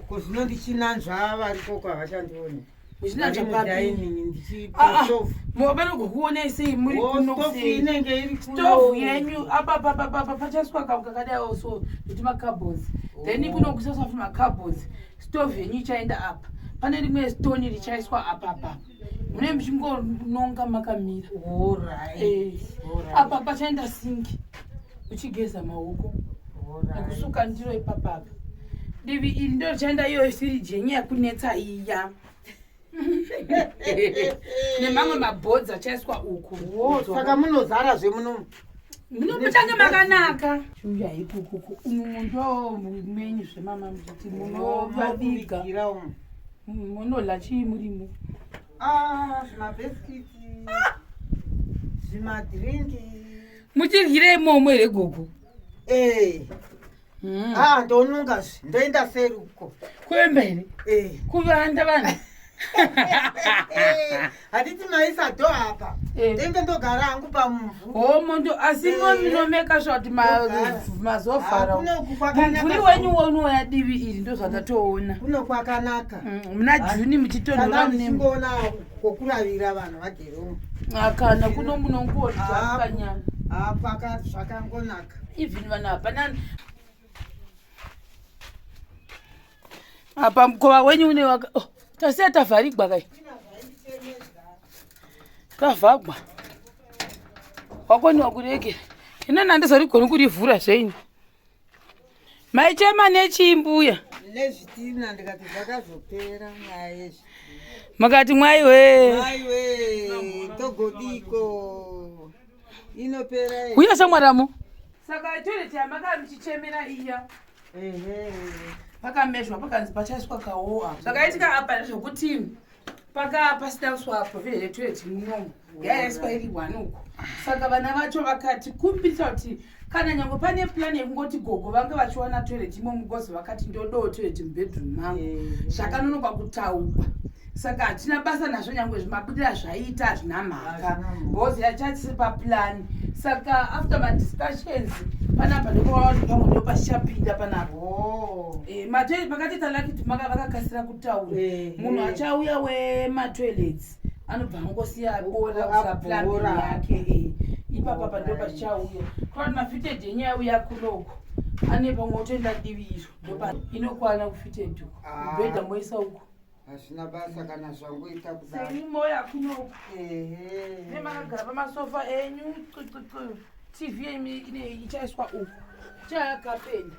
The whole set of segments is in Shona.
Ko zvino ndichinanzva variko kwa vachandione. Ndichinanzva papi? Ndichipotofu. Ah, ah. Vanogokuonai sei muri kuno sei? Inenge iri kuno. Stofu yenyu apa apa apa apa pachaswa kamu kakadai also kuti makabhozi. Then oh. kuno kusaswa futi makabhozi. Stofu yenyu ichaenda apa. Pane rimwe stone richaiswa apa apa. Mune muchingononga makamira. All right. Eh. All right. Apa pachaenda sinki. uchigeza maoko nekusuka ndiro ipapapa divi iri ndorichaenda iyoyo siri jenye yakunetsa iya nemamwe mabhodzi achaiswa uku saka munozara zvemunomu munomutange makanaka chiuya ikukuku umu mundo menyu zvemama muchiti munovaviga munodla chii murimo ah, zvimabheskiti zvimadrinki muchidyira imomo here gogo ee hmm. ah, ndonunga zve ndoenda seri uko kuemba here ee kuvanda vanhu handiti maisa do apa eh. ndenge ndogara hangu pamuvhu homo ndo asi eh. mominomeka zvati mazovhara mumvuri wenyu wonouya divi iri ndo zvatatoona kuno kwakanaka mm, muna juni muchitonhoraungoona kokuravira vanhu vake akana kuno munongoona zvakanyana apaka zvakangonaka even vanhu hapana apa mukova wenyu une waka oh, tasiya tavharigwa kai tavhagwa wakoniwa kuregera inana ndizarigoni kurivhura zvenyu maichema nechii mbuya nezvitina ndikati zvakazopera nyaya yezvi makati mwai wee mai we togodiko inopera here? uya samwaramo saka toilet yamaka michichemera iya Ehe. pakamezwa pakanzi pachaiswa kawoa zvakaitika apa zvekuti paka pasina kuswa pavhiri retoilet munomu yayaiswa iri one uko saka vana vacho vakati kumbirisa kuti kana nyange pane plani yekungoti gogo vange vachiwana toilet imo mugozi vakati ndodoo toilet mubedroom mangu zvakanonoka kutaurwa saka hatina basa nazvo nyange zvimabudira zvaiita hazvina mhaka bhozi yachatisi paplani saka after madiscussions panapa ndopavanhu pamwe ndo pachichapinda panapa oh. eh, matoilet pakati talakiti maka vakakasira kutaura eh, munhu eh. achauya wematoilets anobva angosiya bola kusaplamberi yake eh, ipapa pando pachauya kuvati mafitedi enyu yauya kunoko ane pamwe otoenda divi izvo ndopa inokwana kufitedi uko ah. bhedha moisa uko hazvina basa kana zvangoita kudaimoya kunoko nemakagara pamasofa enyu tv yenyu ichaiswa uko chayakapenda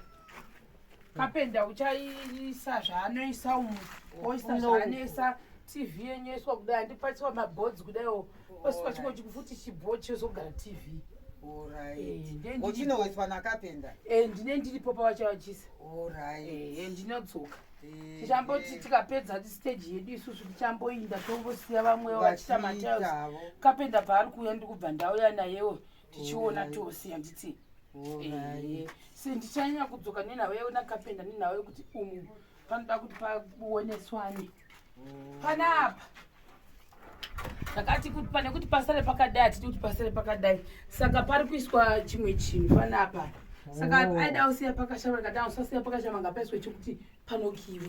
kapenda uchaisa zvaanoisa umu oisa zvaanoisa tv yenyu yoiswa kudai andipatsiwa mabhodzi kudaiwo osika chimwe chiko futi chibho chozogara tv ochinoiswa eh, nakapenda eh, ndine ndiripo pavachavachisa eh, ndinodzoka tichamboti tikapedza stage yedu isusu tichamboinda tongosiya vamwe vachiita matails kapenda paari kuuya ndikubva ndauya nayewo tichiona tose handiti eh, se ndichanyanya kudzoka nenhau yao nakapenda nenhau yekuti umu panoda kuti paoneswane mm. panapa ndakati kuti pane kuti pasare pakadai hatidi kuti pasare pakadai saka pari kuiswa chimwe chinhu panapa saka oh. aida usiya pakashama ndikati usasiya pakashama ngapaiswe chekuti panokiwa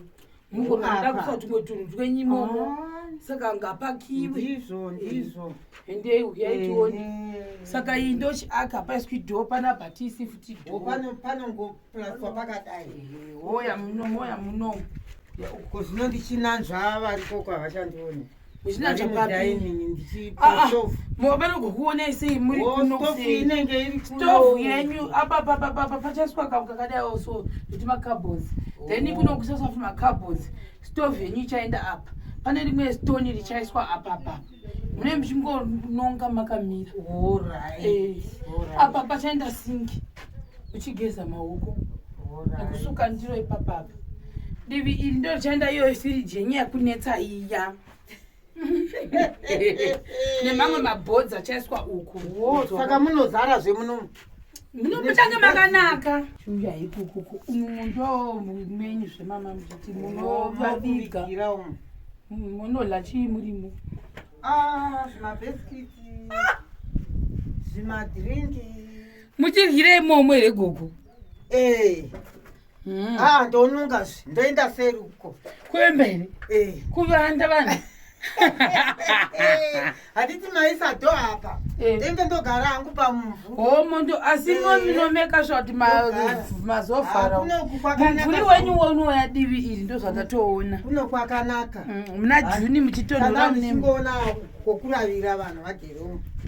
mukuda kusa tumwe tunhu twenyu imomo ah. saka ngapakiwe ndizvo ndizvo endei uyai tione saka iyi ndochiaka paiswi dho pana bhatisi futi dho panongoplaswa pakadai hoya muno moya muno ko zvino ndichinanzva varikoko havachandione vanogokuonai sei muri kunostovu yenyu apapapapapa pachaiswa kamu kakadaiwo so kuti macabos then oh. kuno kusasa kuti macabos stovu yenyu ichaenda apa pane rimwe stoni richaiswa apapapa mune muchingononga makamira eh, apa pachaenda singi uchigeza maoko nekusuka ndiro ipapapa divi iri ndochanda iyoyo firiji yenyu yakunetsa iya nemamwe mabhodzi achaiswa uku saka munozara zvemunomu munomutange makanaka chiuya ikukuku umu ndo menyu zvemama muchiti munovaviga munodla chii murimo ah, zvimabesikiti zvimadrinki muchiryire imomo here gogo eh. hmm. ah, ndonunga zve ndoenda seri uko kuemberi eh. kuvanda vanhu handiti maisa do apa eh. ndenge ndogara hangu pamuvhu homo ndo asi nominomeka zvati mazofaramumvuri wenyu wonouya divi iri ndo zvatatoona kuno kwakanaka muna hmm, juni muchitonhoraungoona kokuravira vanhu vake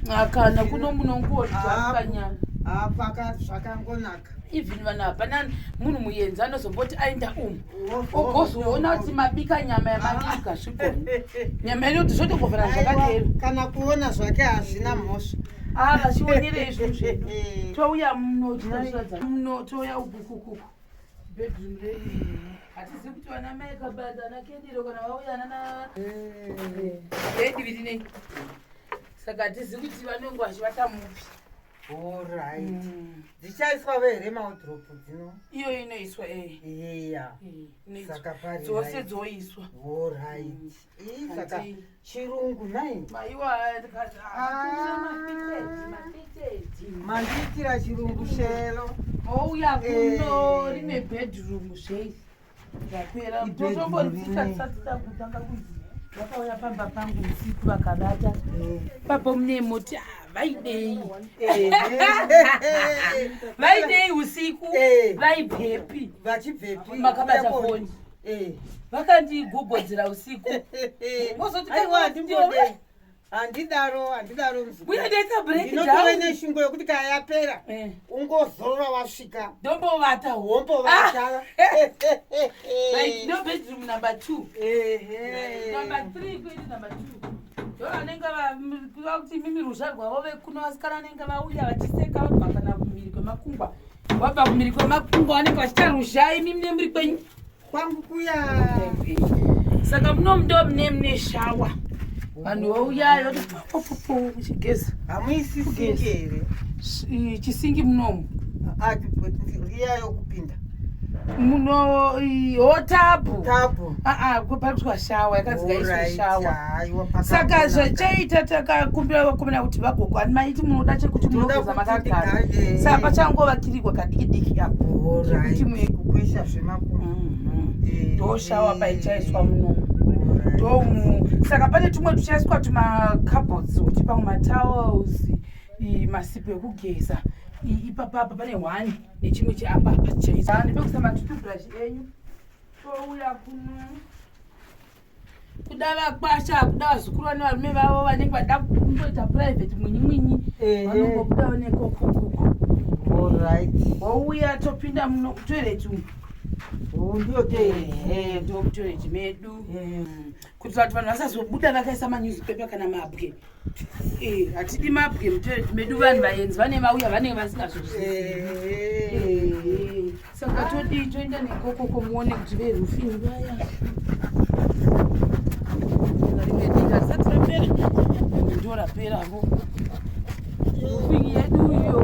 akana kuno munongoakanyana hapaka zvakangonaka even vanhu hapana munhu muyenzi anozomboti aenda umu ogozoona kuti mabika nyama yamabika zvikona nyama yedu kuti zvotogovana zvakadero kana kuona zvake hazvina mhosva aa ah, vachionerei zvinhu zvedu touya muno touya ugukukuku bedroom redu hatizivi kuti vana mai kabanda ana kendiro kana vauya nana bediviri nei saka hatizivi kuti vanenge vachivata mupi orit mm. dzichaiswa vere maudrop dzino iyo inoiswa eya eh. eh, dzose dzoiswa orit mm. saka chirungu nai mandiitira chirungu shelo mouya kuno rine bedroom sei zvapera totomboriisatisatisda kutanga kuzi vakauya pamba pangu usiku vakabata papo mune moti vaidei vaidei usiku vaibvepi makabata foni Eh, vakandigogodzera usiku vozoti aiwa handingode handidaro handidaro mzukuru ndaita break down ndinotove neshungo yokuti kaya yapera Eh. ungozorora wasvika ndombovata wombovata Like, no bedroom number two Ehe. number three kuenda number two ndo vanenge va- m- vakuti mimi ruzha rwavo vekuno vasikana vanenge vauya vachiseka vabva kana kumhiri kwemakungwa wabva kumiri kwemakungo anenge vachita ruzha imi mune muri kwenyu kwangu kuya saka muno mundo mune mune shawa vanhu vauyayo vatipopopo muchigeza hamuisi singi here chisingi munomu riya yokupinda muno hotabhu aa paitwa shawa yakazika iswe shawa saka zvachaita takakumbira vakomena kuti vagogo ani maiti munoda chekuti munogeza makagara saka pachangova kirigwa kadiki diki apo kuti muekukwesha zvemakumu mhm. eh. ndoshawa paichaiswa munomu ndomu saka pane tumwe tuchaiswa tumacabhots kuti pamwe matowels masipo ekugeza ipapapa pane one nechimwe cheapapa chaisa ndipekusa matutubrush enyu touya kuno kuda vakwasha kuda vazukuru vane varume vavo vanenge vada kungoita private mwinyi mwinyi vanongobudawo nekokukuku orit wouya topinda muno kutoilet umu ndiyo toilet ndokutoilet medu kuitira kuti vanhu vasazobuda vakaisa manewspaper kana mabwe eh, hatidi mabwe mutoereti medu vanhu vaenzi vane vauya vanenge vasingazozii eh. eh, saka todii toenda nekokoko muone kuti verufini vaya ndoraperapo rufini yedu iyo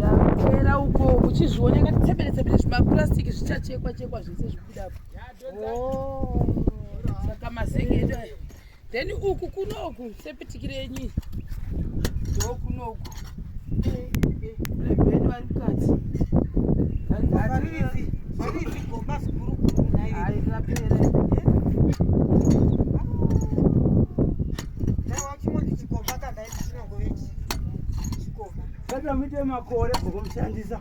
yapera uko uchizviona katitsebere tsebere zvimapurasitiki zvichachekwa chekwa zvese zvikudapo Oh. Saka mazenge edu ayo. Then uku kunoku sepitikire yenyu. Ndo kunoku. Lebeni vari mukati. Vari mukati. Vari zvigomba zvikuru kuru nayo. Hayi rapera. Saka muite makore bhokomushandisa.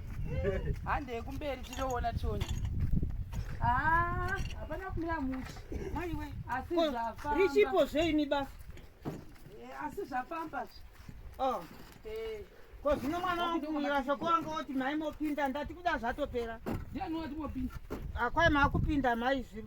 hande yekumberi tinoona tione ah, hapana kumira muchi maiwe asi zvafamba richipo zveini basa eh, asi zvafamba zve oh. eh. ko zvino mwana wangu murasho kwanga woti mai mopinda ndati kuda zvatopera ndiani wati mopinda akwai ah, makupinda mai zviri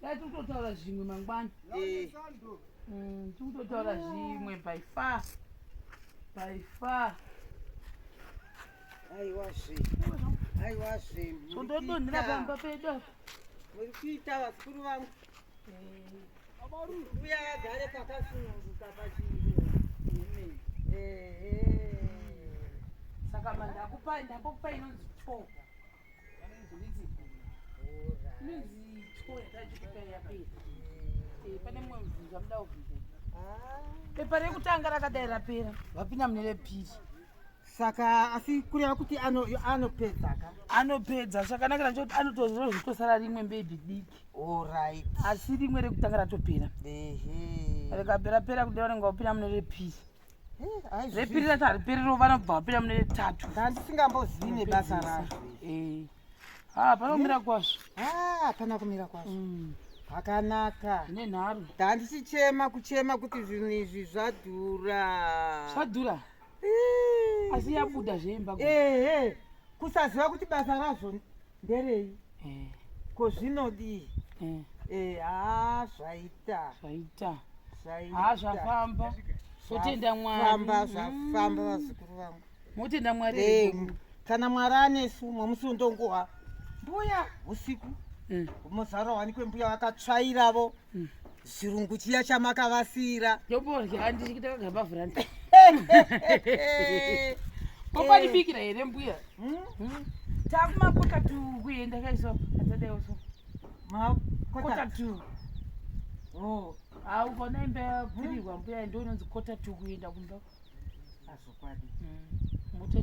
dai tiri kutotaura zvimwe mangwana eh. mm, tiri kutotaura zvimwe by far by far aiwazve aiwazve tondodonhera pamba pedu apa muri kuita vakuru vangu eh. uya agare pakasununguka pachii saka mandakupai ndakupai inonzi toga pepa rekutanga rakadai rapera vapinda mune repiri saka asi kureva kuti anopedza ka anopedza zvakanakira nchekuti anotozvitosara rimwe mbebhi diki orit asi rimwe rekutanga ratopera rekaperapera kuti vanenge vapinda mune repiri repiri racho hariperi rovana kubva vapinda mune retatu ndandisingambozivi nebasa razvo eh. ha ah, panomira eh? kwazvo hapana ah, kumira kwazvo mm. pakanaka ne nharo ndandichichema kuchema kuti zvinhu izvi zvadhura zvadhura eh. asi yabuda zveimba ehe kusaziva kuti basa razvo nderei eh. ko zvinodii eh. eh, haa zvaita zvaita haa zvafamba zvotenda mwarifamba zvafamba mm. vazukuru vangu motenda mwari kana mwari anesu mwamusi undonguha mbuya usiku mm. muzaro wanikwe mbuya vakatsvairavo mm. chirungu chiya chamakavasira ndoborya ndichitakaga pavhuranda kopanibikira eh. here mbuya hmm? hmm? takumakota tu kuenda kaiso atadaiwo so makota tu oh. ha ukaona imba yapfirirwa mbuya ndononzi kota tu kuenda kumba azvokwadi hmm.